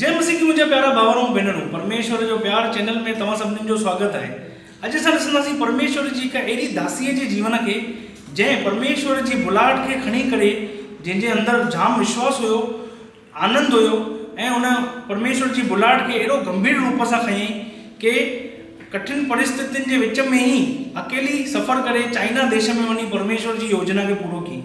جي مسيح جي منهنجا پيارا ڀائر ۽ ڀينرون، پرميشور جو پيار چينل ۾ توهان سڀني جو سواگت آهي. اڄ اسان ڏسنداسين پرميشور جي هڪ اهڙي داسيء جي جيون کي جنهن پرميشور جي بلاهٽ کي کڻي ڪري جنهن جي اندر جام وشواس هيو، آنند هيو ۽ ان پرميشور جي بلاهٽ کي اهڙو گنڀير روپ سان کنيائين ڪي ڪٺن پرستتين جي وچ ۾ ئي اڪيلي سفر ڪري چائنا ديش ۾ وڃي پرميشور جي يوجنا کي پورو ڪيائين.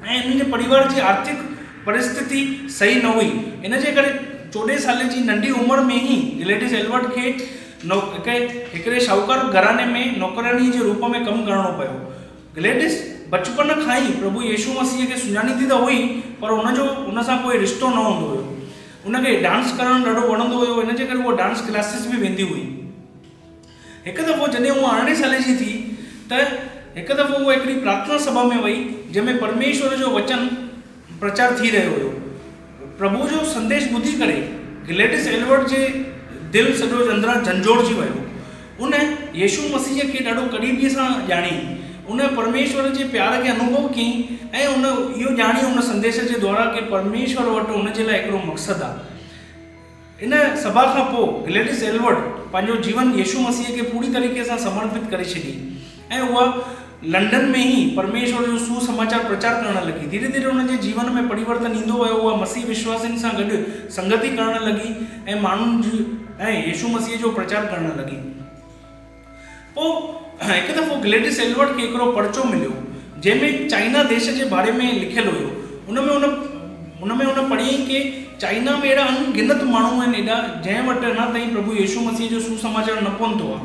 ۽ انهن جي پريوار جي آرٿڪ پرستتي صحيح نه هئي ان جي ڪري چوڏهين سالي جي ننڍي عمر ۾ ئي گليڊيس ايلبرٽ کي هڪڙي شاهوڪار گهراڻي ۾ نوڪرياڻي جي روپ ۾ ڪم ڪرڻو پيو گليڊيس بچپن کان ئي پرڀو يسوع مسيح کي سڃاڻيندي ته هئي پر ان جو ان سان ڪوئي رشتو نه هوندو هيو ان کي ڊانس ڪرڻ ڏاڍو وڻندو هيو ان جي ڪري هوء ڊانس ڪلاسز به ويندي هئي. هڪ دفعو جڏهن هوء ارڙهن سالي جي ٿي ته هڪ دفعو هوء هڪڙي پرارٿنا سڀا ۾ وئي جنهن ۾ پرميشور جو وچن پرچار ٿي رهيو هيو. پرڀو جو سنديش ٻڌي ڪري گليڊس ايلورٽ جي دل سڄو اندران جهنجهوڙجي ويو. ان يسوع مسيح کي ڏاڍو قريبيء سان ڄاڻيائين، ان پرميشور جي پيار کي انوڀو ڪيائين ۽ هن اهو ڄاڻيو ان سنديش جي دوارا ڪي پرميشور وٽ هن جي لاء هڪڙو مقصد آ. ان سڀا کان پوء گليڊس ايلورڊ پنهنجو جيون يسوع مسيح کي پوري طريقي سان سمرپت ڪري ڇڏي ۽ اها لنڊن ۾ ئي پرميشور جو سوسماچار پرچار ڪرڻ لڳي. ڌيري ڌيري هن جي جيون ۾ پريورتن ايندو ويو، اها مسيحي وشواسين سان گڏ سنگتي ڪرڻ لڳي ۽ ماڻهن ۽ يسوع مسيح جو پرچار ڪرڻ لڳي. پوء هڪ دفعو گليڊس ايلبرٽ کي هڪڙو پرچو مليو، جنهن ۾ چائنا ديس جي باري ۾ لکيل هيو. ان ۾ هن ان ۾ هن پڙهيائين ڪي چائنا ۾ اهڙا ان گنت ماڻهو آهن ايڏا، جنهن وٽ اڃا تائين پرڀو يسوع مسيح جو سوسماچار نه پهتو آهي.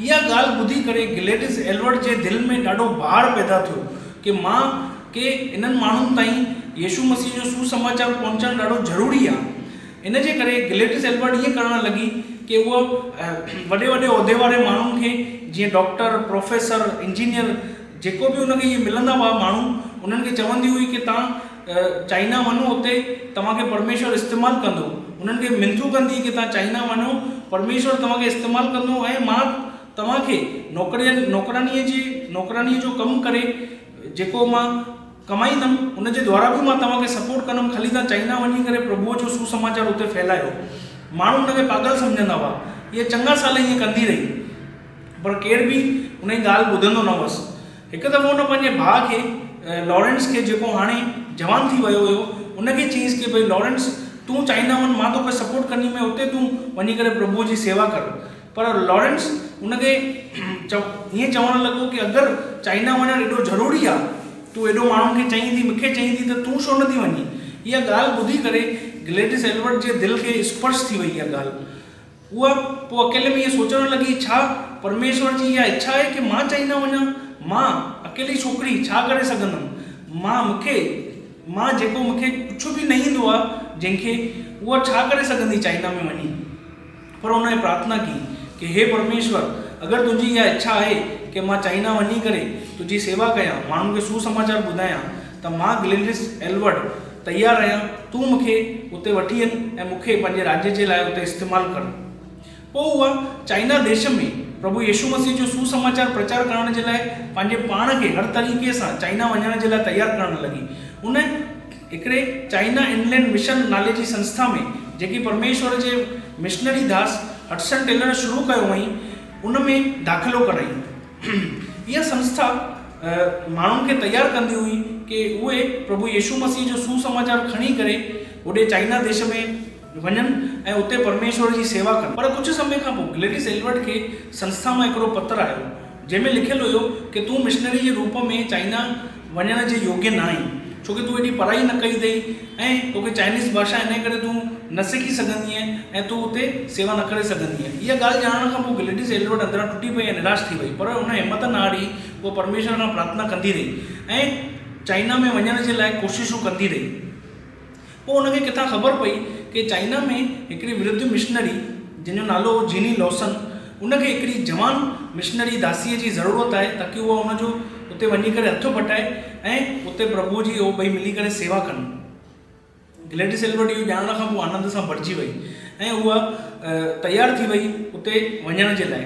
اها ڳالهه ٻڌي ڪري گليڊس ايلبرٽ جي دل ۾ ڏاڍو ڀاڙ پيدا ٿيو ڪي مان ڪي انهن ماڻهن تائين يسوع مسيح جو سوسماچار پهچائڻ ڏاڍو ضروري آهي. ان جي ڪري گليڊس ايلبرٽ ائين ڪرڻ لڳي ڪي هوء وڏي وڏي عهدي واري ماڻهن کي جيئن ڊاڪٽر، پروفيسر، انجنيئر جيڪو به ان کي ائين ملندا هئا ماڻهو انهن کي چوندي هئي ڪي توهان چائنا وڃو اتي توهان کي پرميشور استعمال ڪندو انهن کي منٿون ڪندي هئي ڪي توهان چائنا وڃو پرميشور توهان کي استعمال ڪندو ۽ مان توهان کي نوڪرين نوڪرانيء جي نوڪرانيء جو ڪم ڪري جيڪو مان ڪمائيندم ان جي دوارا به مان توهان کي سپورٽ ڪندم خلي تان چائنا وڃي ڪري پرڀوء جو سوسماچار اتي ڦهلايو ماڻهو ان کي پاڳل سمجهندا هئا اها چڱا سال ائين ڪندي رهي پر ڪير به ان جي ڳالهه ٻڌندو نه هوس هڪ دفعو ان پنهنجي ڀاء کي لارينس کي جيڪو هاڻي جوان ٿي ويو هيو ان کي چيس ڪي ڀئي لارينس تون چائنا وڃ مان توکي سپورٽ ڪندي مين اتي تون وڃي ڪري پرڀوء جي سيوا ڪر پر لارينس هن کي ائين چوڻ لڳو ڪي اگر چائنا وڃڻ ايڏو ضروري آ، تون ايڏو ماڻهن کي چئين ٿي، مون کي چئين ٿي ته تون ڇو نه ٿي وڃين؟ اها ڳالهه ٻڌي ڪري گلئڊس ايلبرٽ جي دل کي اسپرش ٿي وئي اها ڳالهه. هوء پوء اڪيلي ۾ ائين سوچڻ لڳي ڇا پرميشور جي اها اڇا آهي ڪي مان چائنا وڃان؟ مان اڪيلي ڇوڪري ڇا ڪري سگهندم؟ مان مون کي مان جيڪو مون کي ڪجهه به نه ايندو آ جنهن کي، هوء ڇا ڪري سگهندي چائنا ۾ وڃي؟ پر هن هيء پرارٿنا ڪئي ڪي هي پرميشور! اگر تنهنجي اها اڇا آهي ڪي مان چائنا وڃي ڪري تنهنجي سيوا ڪيان، ماڻهن کي سوسماچار ٻڌايان، ته مان گلينرس ايلورڊ تيار آهيان، تون مون کي اتي وٺي اچ ۽ مون کي پنهنجي راڄ جي لاء اتي استعمال ڪر. پوء هوء چائنا ديش ۾ پرڀو يسوع مسيح جو سوسماچار پرچار ڪرڻ جي لاء پنهنجي پاڻ کي هر طريقي سان چائنا وڃڻ جي لاء تيار ڪرڻ لڳي. هن هڪڙي چائنا انلينڊ مشن نالي جي سنسٿا ۾، جيڪي پرميشور جي مشنري ڌاس هڊسن ٽيلر شروع ڪيو هئائين، ان ۾ داخلو ڪرايائين. اها سنسٿا ماڻهن کي تيار ڪندي هئي ڪي اهي پرڀو يسوع مسيح جو سوسماچار کڻي ڪري هوڏي چائنا ديش ۾، وڃن ۽ اتي پرميشور جي سيوا ڪن. پر ڪجهه سمي کان پوء گليڊيس ايلبرٽ کي سنسٿا مان هڪڙو پتر آيو، جنهن ۾ لکيل هيو ڪي تون مشنري جي روپ ۾ چائنا وڃڻ جي يوگيه نه آهين، ڇو ڪي تون ايڏي پڙهائي نه ڪئي اٿئي ۽ توکي چائنيز ڀاشا انهيء ڪري تون نه سکي سگهندينء ۽ تون اتي سيوا نه ڪري سگهندينء. اها ڳالهه ڄاڻڻ کان پوء گليڊيس ايلبرٽ اندران ٽٽي پئي ۽ نراش ٿي وئي، پر هن همت نه هاري، هوء پرميشور کان پرارٿنا ڪندي رهي ۽ چائنا ۾ وڃڻ جي لاء ڪوششون ڪندي رهي. پوء هن کي ڪٿان خبر پئي ڪي چائنا ۾ هڪڙي ورڌ مشنري جنهن جو نالو هو جيني لوسن ان کي هڪڙي جوان مشنري داسيء جي ضرورت آهي تاڪي اها ان جو اتي وڃي ڪري هٿ بٽائي ۽ اتي پرڀوء جي اهو ٻئي ملي ڪري سيوا ڪن. گلئڊيس ايلبرٽ اهو ڄاڻڻ کان پوء آنند سان ڀرجي وئي ۽ اها تيار ٿي وئي اتي وڃڻ جي لاء.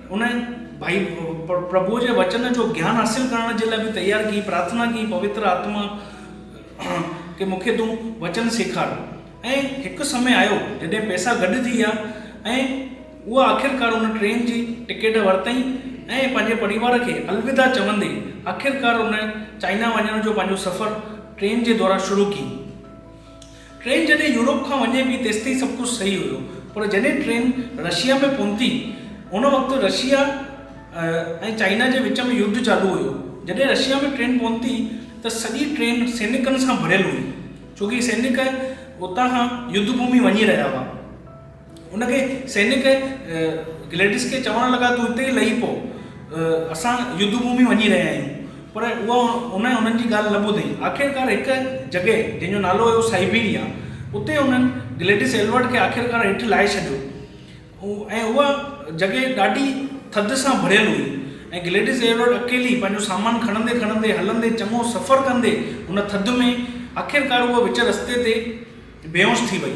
هن ڀائي پرڀوء جي وچن جو گيان حاصل ڪرڻ جي لاء به تيار ڪيئي، پرارٿنا ڪيئي، پوتر آتما کي مون کي تون وچن سيکار. ۽ هڪ سمي آيو جڏهن پئسا گڏ ٿي ويا ۽ هوء آخرڪار ان ٽرين جي ٽڪيٽ ورتائين ۽ پنهنجي پريوار کي الوداع چوندي آخرڪار ان چائنا وڃڻ جو پنهنجو سفر ٽرين جي دؤران شروع ڪيئي. ٽرين جڏهن يورپ کان وڃي پي تيستائين سڀ ڪجهه صحيح هيو پر جڏهن ٽرين رشيا ۾ پهتي ان وقت رشيا ۽ چائنا جي وچ ۾ يڌ چالو هيو جڏهن رشيا ۾ ٽرين پهتي ته سڄي ٽرين سينڪن سان ڀريل هئي ڇو ڪي سينڪ اتان کان يڌ ڀومي وڃي رهيا هئا. ان کي سينڪ ۽ گليڊس کي چوڻ لڳا، تون اتي ئي لهي پو، اسان يڌ ڀومي وڃي رهيا آهيون. پر اها هن انهن جي ڳالهه نه ٻڌئي. آخرڪار هڪ جڳهه جنهن جو نالو هيو سائبيريا، اتي انهن گليڊس ايلبرٽ کي آخرڪار هيٺ لاهي ڇڏيو ۽ اها جڳهه ڏاڍي ٿڌ سان ڀريل هئي ۽ گليڊس ايلبرٽ اڪيلي پنهنجو سامان کڻندي کڻندي هلندي چڱو سفر ڪندي ان ٿڌ ۾ آخرڪار اها وچ رستي تي بيهوش ٿي وئي.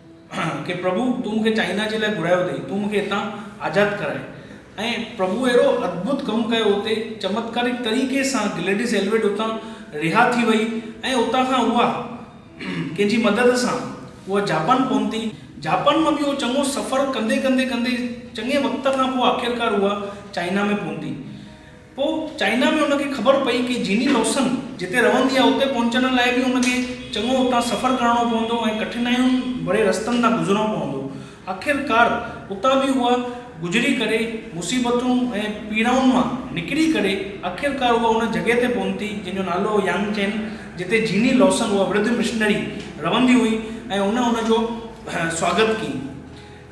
ڪي پرڀو تون مونکي چائنا جي لاء گهرايو اٿئي تون مونکي هتان آزاد ڪرائي ۽ پرڀو اهڙو ادڀت ڪم ڪيو اتي چمتڪارڪ طريقي سان گلئڊس ايلويڊ اتان رها ٿي وئي ۽ اتان کان اها ڪنهن جي مدد سان اها جاپان پهتي، جاپان مان ٻيو چڱو سفر ڪندي ڪندي ڪندي چڱي وقت کان پوء آخرڪار اها چائنا ۾ پهتي. پوء چائنا ۾ ان کي خبر پئي ڪي جيني لوسن جتي رهندي آهي اتي پهچڻ لاء به ان کي چڱو اتان سفر ڪرڻو پوندو ۽ ڪٺنايون ڀري رستن تان گذرڻو پوندو. آخرڪار اتان به اها گذري ڪري مصيبتون ۽ پيڙائن مان نڪري ڪري آخرڪار اها ان جڳهه تي پهتي جنهن جو نالو هو يانگ چين جتي جيني لوسن اها وردھ مشنري رهندي هئي ۽ ان ان جو سواگت ڪئي.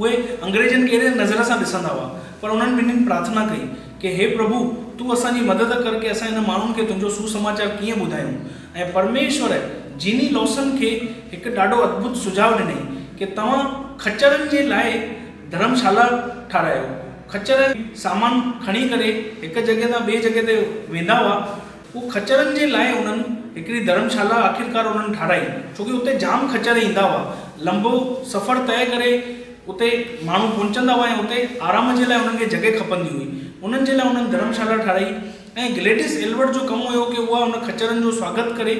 اهي انگريزن کي اهڙي نظر سان ڏسندا هئا، پر انهن ٻنهين پرارٿنا ڪئي ڪي هي پرڀو! تون اسان جي مدد ڪر ڪي اسان هن ماڻهن کي تنهنجو سوسماچار ڪيئن ٻڌايون؟ ۽ پرميشور جيني لوسن کي هڪ ڏاڍو ادڀت سجهاء ڏنائين ڪي توهان خچرن جي لاء ڌرم شالا ٺارايو. خچر سامان کڻي ڪري هڪ جڳهه تان ٻي جڳهه تي ويندا هئا. هو خچرن جي لاء انهن هڪڙي ڌرمشالا آخرڪار انهن ٺاهرائي ڇو ڪي اتي جام خچر ايندا هئا لنبو سفر طئي ڪري اتي ماڻهو پهچندا هئا ۽ اتي آرام جي لاء انهن کي جڳهه کپندي هئي انهن جي لاء انهن ڌرمشالا ٺاهرائي ۽ گليڊيس ايلبرٽ جو ڪم هيو ڪي اها ان خچرن جو سواگت ڪري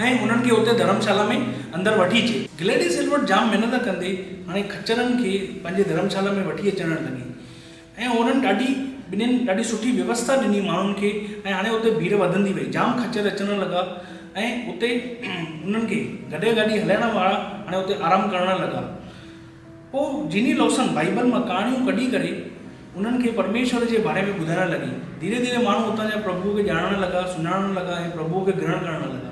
۽ انهن کي اتي ڌرمشالا ۾ اندر وٺي اچي. گليڊيس ايلبرٽ جام محنت ڪندي هاڻي خچرن کي پنهنجي ڌرمشالا ۾ وٺي اچڻ لڳي ۽ هونئن ڏاڍي ٻنين ڏاڍي سٺي ويوسٿا ڏني ماڻهن کي ۽ هاڻي اتي ڀيڙ وڌندي وئي جام خچر اچڻ لڳا ۽ اتي انهن کي گڏهه گاڏي هلائڻ وارا هاڻي اتي آرام ڪرڻ لڳا پوء جيني لوسن بائيبل مان ڪهاڻيون ڪڍي ڪري انهن کي پرميشور جي باري ۾ ٻڌائڻ لڳي ڌيري ڌيري ماڻهو اتان جا پرڀوء کي ڄاڻڻ لڳا سڃاڻڻ لڳا ۽ پرڀوء کي گرهڻ ڪرڻ لڳا.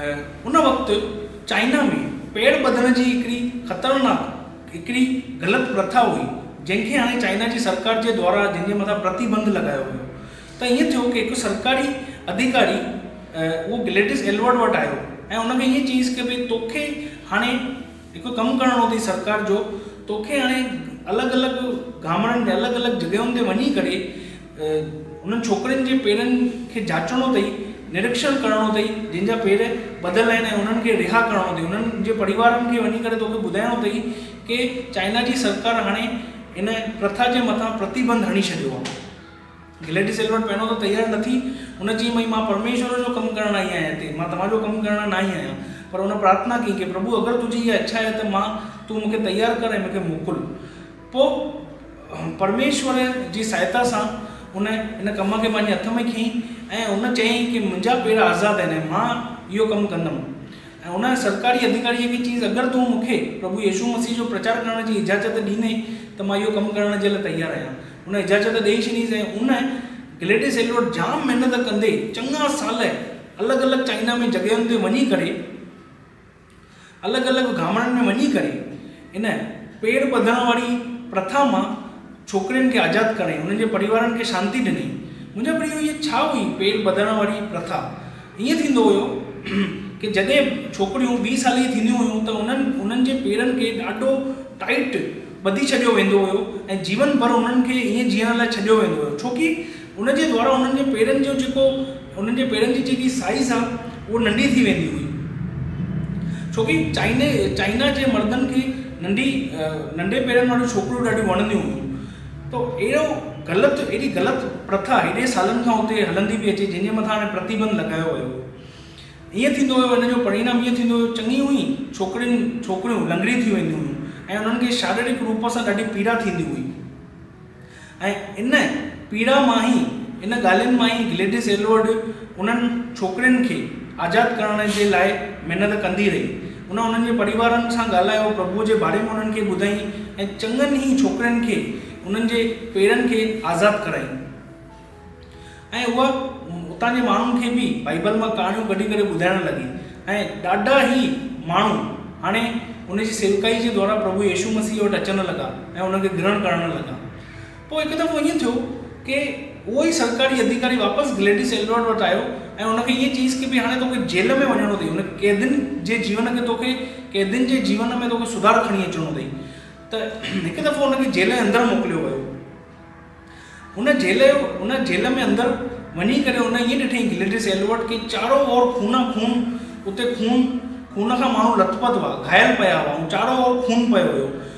ان وقت چائنا ۾ پير ٻڌڻ جي هڪڙي خطرناڪ هڪڙي غلط پرٿا هئي جنهن کي هاڻي چائنا جي سرڪار جي دوارا جنهن جي مٿان پرتيبنڌ لڳايو ويو ته ائين ٿيو ڪي هڪ سرڪاري اڌيڪاري اهو گليڊس ايلورڊ وٽ آيو ۽ ان کي ائين چيس ڪي ڀئي توکي هاڻي هڪ ڪم ڪرڻو اٿئي سرڪار جو توکي هاڻي الڳ الڳ گامڙن ۾ الڳ الڳ جڳهين تي وڃي ڪري انهن ڇوڪرين جي پيرن کي جاچڻو اٿئي نريڪشڻ ڪرڻو اٿئي جن جا پير ٻڌل آهن ۽ انهن کي رها ڪرڻو اٿئي انهن جي پريوارن کي وڃي ڪري توکي ٻڌائڻو اٿئي ڪي چائنا جي سرڪار هاڻي ان پرٿا جي مٿان پرتيبند هڻي ڇڏيو آهي گليڊي سيل وٽ پهريون ته تيار نه ٿي. هن چيائين، ڀئي مان پرميشور جو ڪم ڪرڻ آئي آهيان هتي. مان توهان جو ڪم ڪرڻ نه آئي آهيان. پر هن پرارٿنا ڪئي ڪي پرڀو اگر تنهنجي اها اڇا آهي ته مان تون مون کي تيار ڪر ۽ مون کي موڪل. پوء پرميشور جي سهائتا سان هن ان ڪم کي پنهنجي هٿ ۾ کنئي ۽ هن چيائين ڪي منهنجا پير آزاد آهن ۽ مان اهو ڪم ڪندم. ۽ هن سرڪاري اڌيڪاريء کي چيس اگر تون مون کي پرڀو يسوع مسيح جو پرچار ڪرڻ جي اجازت ڏيني ته مان اهو ڪم ڪرڻ جي لاء تيار آهيان. هن اجازت ڏئي ڇڏيس ۽ هن، گليڊس ايلوٽ، جام محنت ڪندي چڱا سال الڳ الڳ چائنا ۾ جڳهين تي وڃي ڪري الڳ الڳ گامڙن ۾ وڃي ڪري ان پير ٻڌڻ واري پرٿا مان ڇوڪرين کي آزاد ڪرائين، هنن جي پريوارن کي شانتي ڏنائين. منهنجا پريو هيء ڇا هئي پير ٻڌڻ واري پرٿا؟ ائين ٿيندو هيو ڪي جڏهن ڇوڪريون ويهه سالي جي ٿينديون هيون ته انهن انهن جي پيرن کي ڏاڍو ٽائيٽ ٻڌي ڇڏيو ويندو هيو ۽ جيون ڀر انهن کي ائين جيئڻ لاء ڇڏيو ويندو هيو ڇو ڪي ان جي دوارا انهن جي پيرن جو جيڪو انهن جي پيرن جي جيڪي سائيز آ هو ننڍي ٿي ويندي هئي ڇو ڪي چائني چائنا جي مردن کي ننڍي ننڍي پيرن واريون ڇوڪريون ڏاڍيون وڻنديون هيون ته اهڙو غلط اهڙي غلط پرٿا هيڏي سالن کان اتي هلندي پئي اچي جنهن جي مٿان هاڻي پرتيبند لڳايو ويو هو. ائين ٿيندو ويو ان جو پرينام ائين ٿيندو ويو چڱيون ئي ڇوڪرين ڇوڪريون لنگڙيون ٿي وينديون هيون ۽ انهن کي شاريرڪ روپ سان ڏاڍي پيڙا ٿيندي هئي ۽ ان پيڙا مان ئي ان ڳالهين مان ئي گليڊيس ايلورڊ انهن ڇوڪرين کي آزاد ڪرڻ جي لاء محنت ڪندي رهي هن انهن جي پريوارن سان ڳالهايو، پرڀوء جي باري ۾ انهن کي ٻڌائين ۽ چڱن ئي ڇوڪرين کي انهن جي پيرن کي آزاد ڪرائين ۽ هوء اتان جي ماڻهن کي به بائيبل مان ڪهاڻيون ڪڍي ڪري ٻڌائڻ لڳي ۽ ڏاڍا ئي ماڻهو هاڻي ان جي سيوڪائي جي دؤران پرڀو يسوع مسيح وٽ اچڻ لڳا ۽ ان کي گرهڻ ڪرڻ لڳا. پوء هڪ دفعو ائين ٿيو ڪي اهو ئي سرڪاري اڌيڪاري واپس گليڊيس ايلرڊ وٽ آيو ۽ ان کي ائين چيس ڪي ڀي هاڻي توکي جيل ۾ وڃڻو اٿئي ان قيدين جي جيون کي توکي قيدين جي جيون ۾ توکي سڌار کڻي اچڻو اٿئي ته هڪ دفعو ان کي جيل جي اندر موڪليو ويو ان جيل جو ان جيل ۾ اندر وڃي ڪري ان ائين ڏٺئي گليڊيس ايلورڊ ڪي چارو اور خون خون اتي خون خون کان ماڻهو لٿ پٿ هئا گهايل پيا هئا ۽ چارو اور خون پيو هيو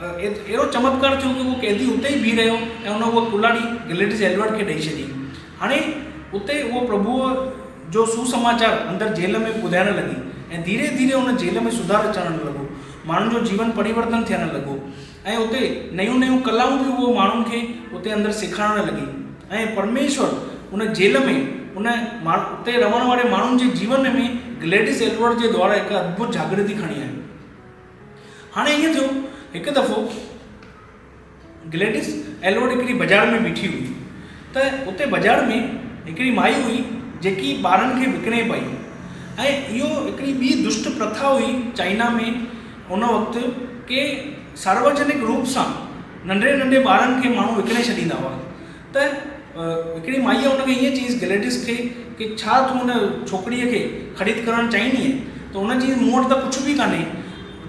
اهڙو چمتڪار ٿيو ته اهو قيدي اتي ئي بيهي رهيو ۽ ان اها ڪلاڙي گليڊس ايڊورڊ کي ڏئي ڇڏي. هاڻي اتي اهو پرڀوء جو سوسماچار اندر جيل ۾ ٻڌائڻ لڳي ۽ ڌيري ڌيري ان جيل ۾ سڌار اچڻ لڳو. ماڻهن جو جيون پريورتن ٿيڻ لڳو ۽ اتي نيون نيون ڪلائون به اهو ماڻهن کي اتي اندر سيکارڻ لڳي ۽ پرميشور ان جيل ۾ ان اتي رهڻ واري ماڻهن جي جيون ۾ گليڊس ايڊورڊ جي دوارا هڪ اڌڀت جاڳرتي کڻي آيو. هاڻي ائين ٿيو، هڪ دفعو گليڊيس ايلوڊ هڪڙي بازار ۾ بيٺي هئي ته اتي بازار ۾ هڪڙي مائي هئي جيڪي ٻارن کي وڪڻي پئي ۽ اهو هڪڙي ٻي دشٽ پرٿا هئي چائنا ۾ ان وقت ڪي سارواجنڪ روپ سان ننڍڙي ننڍي ٻارن کي ماڻهو وڪڻي ڇڏيندا هئا ته هڪڙي مائيء ان کي ائين چيس، گلئڊس کي، ڪي ڇا تون ان ڇوڪريء کي خريد ڪرڻ چاهيندينء؟ ته هن چيس، مون وٽ ته ڪجهه به ڪانهي.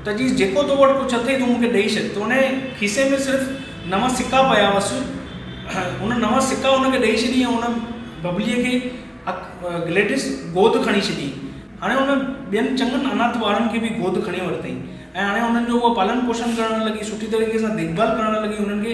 ته چيس، جيڪو تو وٽ ڪجهه اٿئي، تون مون کي ڏئي ڇڏ. ته ان جي کيسي ۾ صرف نو سڪا پيا هئس. هن نو سڪا هن کي ڏئي ڇڏي ۽ ان ببليء کي اک گلئڊس گود کڻي ڇڏي. هاڻي هن ٻين چڱن اناٿ ٻارن کي به گود کڻي ورتئي ۽ هاڻي انهن جو هوء پالڻ پوشڻ ڪرڻ لڳي، سٺي طريقي سان ديکڀال ڪرڻ لڳي، انهن کي.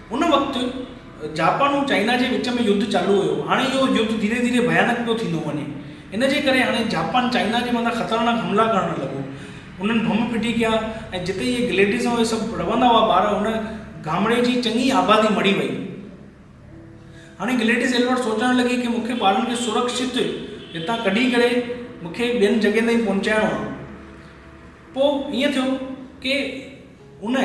ان وقت جاپان ۽ چائنا جي وچ ۾ يڌ چالو هيو. هاڻي اهو يڌ ڌيري ڌيري ڀيانڪ پيو ٿيندو وڃي. ان جي ڪري هاڻي جاپان چائنا جي مٿان خطرناڪ حملا ڪرڻ لڳو. انهن بم ڦٽي ڪيا ۽ جتي اهي گليڊيز ۽ اهي سڀ رهندا هئا ٻار ان گامڙي جي چڱي آبادي مڙي وئي. هاڻي گليڊيز ايلبرٽ سوچڻ لڳي ڪي مون کي ٻارن کي سرڪشت هتان ڪڍي ڪري مون کي ٻين جڳهين تائين پهچائڻو آهي. پوء ائين ٿيو ڪي ان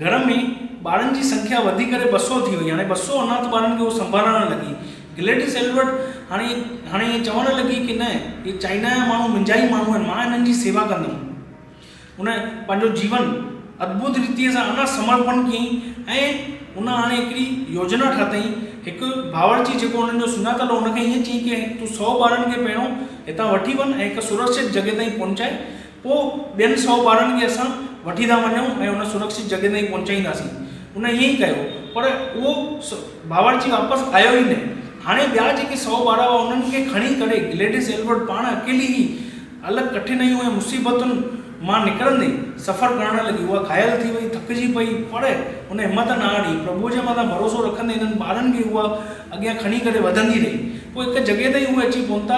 گهر ۾ ٻارن جي سنکيا وڌي ڪري ٻه سؤ ٿي وئي. هاڻي ٻه سؤ اناٿ ٻارن کي هوء سنڀالڻ لڳي. گلئڊس ايلبرٽ هاڻي هاڻي ائين چوڻ لڳي ڪي نه، اهي چائنا جا ماڻهو منهنجا ئي ماڻهو آهن، مان هنن جي سيوا ڪندم. هن پنهنجو جيون ادڀت ريتيء سان انا سمرپڻ ڪيائين ۽ هن هاڻي هڪڙي يوجنا ٺاهتائين. هڪ باورچي جيڪو هنن جو سڃاتل هو، هن کي ائين چيائين ڪي تون سؤ ٻارن کي پهريون هتان وٺي وڃ ۽ هڪ سرڪشت جڳهه تائين پهچاء، پوء ٻين سؤ ٻارن کي اسان وٺي ٿا وڃون ۽ ان سرڪشت جڳهه تائين پهچائينداسين. ان ائين ئي ڪيو، پر اهو باورچي واپس آيو ئي نه. هاڻي ٻيا جيڪي سؤ ٻار هئا، انهن کي کڻي ڪري گليڊس ايلبرٽ پاڻ اڪيلي ئي الڳ ڪٺنائيون ۽ مصيبتن مان نڪرندي سفر ڪرڻ لڳي. اها گهايل ٿي وئي، ٿڪجي پئي، پر هن همت نه هاري. پرڀوء جي مٿان ڀروسو رکندي انهن ٻارن کي اها اڳيان کڻي ڪري وڌندي رهي. پوء هڪ جڳهه تائين اهي اچي پهتا.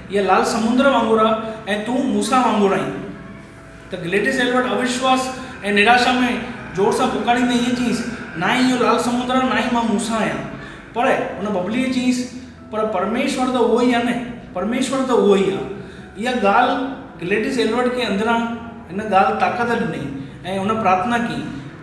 هيء لال سمنڊ وانگر آ ۽ تون موسيٰ وانگر آهين. ته گليڊيس ايلبرٽ اوشواس ۽ نراشا ۾ زور سان پڪاريندي ائين چيس، نه ئي اهو لال سمنڊ آ، نه ئي مان موسيٰ آهيان. پر هن ببليء چيس، پر پرميشور ته اهو ئي آ نه؟ پرميشور ته اهو ئي آ. اها ڳالهه گليڊيس ايلبرٽ کي اندران هن ڳالهه طاقت ڏني ۽ هن پرارٿنا ڪئي.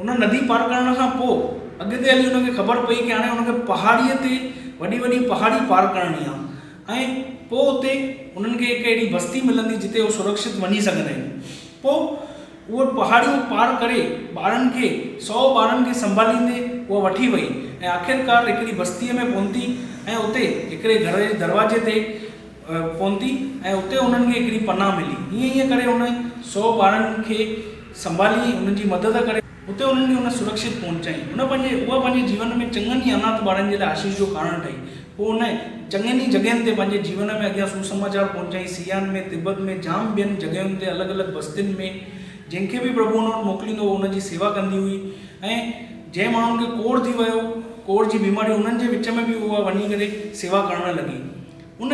ان ندي پار ڪرڻ کان پوء اڳتي هلي ان کي خبر پئي ته هاڻي ان کي پهاڙيء تي وڏي وڏي پهاڙي پار ڪرڻي آهي ۽ پوء اتي انهن کي هڪ اهڙي بستي ملندي جتي هو سرڪشت وڃي سگهندا آهن پوء اهي پهاڙيون پار ڪري ٻارن کي سؤ ٻارن کي سنڀاليندي اها وٺي وئي ۽ آخرڪار هڪڙي بستيء ۾ پهتي ۽ اتي هڪڙي گهر جي دروازي تي پهتي ۽ اتي انهن کي هڪڙي پناهه ملي ائين ائين ڪري ان سؤ ٻارن کي سنڀاليئي انهن جي مدد ڪري اتي انهن کي هن سرڪشت پهچائين. هن پنهنجي اها پنهنجي جيون ۾ چڱن ئي اناٿ ٻارن جي لاء آشيس جو ڪارڻ ٺهي. پوء هن چڱين ئي جڳهين تي پنهنجي جيون ۾ اڳيان سوسماچار پهچائين سيان ۾ تبت ۾ جام ٻين جڳهين تي الڳ الڳ بستين ۾ جنهن کي به پرڀو ان وٽ موڪليندو هو ان جي سيوا ڪندي هئي ۽ جنهن ماڻهن کي ڪوڙهه ٿي ويو ڪوڙهه جي بيماري انهن جي وچ ۾ به اها وڃي ڪري سيوا ڪرڻ لڳي ان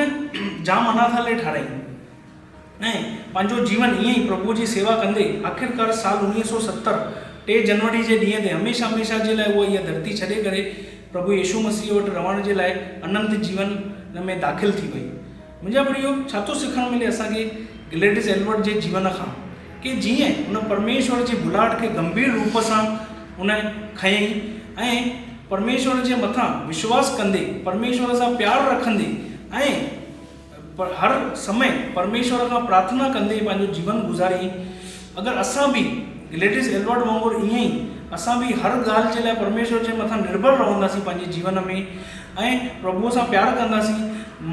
جام اناٿالي ٺاهرائين. ۽ پنهنجو جيون ائين ئي پرڀوء جي سيوا ڪندي آخرڪار سال اڻويهه سؤ ستر ٽي جنوري جي ڏينهن تي هميشه هميشه جي لاء هو اها ڌرتي ڇڏي ڪري پرڀو يسوع مسيح وٽ رهڻ جي لاء اننت جيون ۾ داخل ٿي وئي. منهنجا پريو، ڇا ٿو سکڻ ملي اسان کي گليڊس ايلبرٽ جي جيون کان؟ ڪي جيئن هن پرميشور جي ڀلائٽ کي گنڀير روپ سان هن کنيئي ۽ پرميشور جي مٿان وشواس ڪندي، پرميشور سان پيار رکندي ۽. پر هر سمي پرميشور کان پرارٿنا ڪندي پنهنجو جيون گذاريئي. اگر اسان به گليڊيس ايلبرٽ وانگر ايئن ئي اسان به هر ڳالهه جي لاء پرميشور جي مٿان نرڀر رهنداسين پنهنجي جيون ۾ ۽ پرڀوء سان پيار ڪنداسين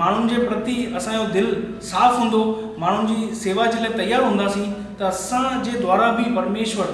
ماڻهن جي پرتي اسان جو دل صاف هوندو ماڻهن جي سيوا جي لاء تيار هونداسين ته اسان جي دوارا به پرميشور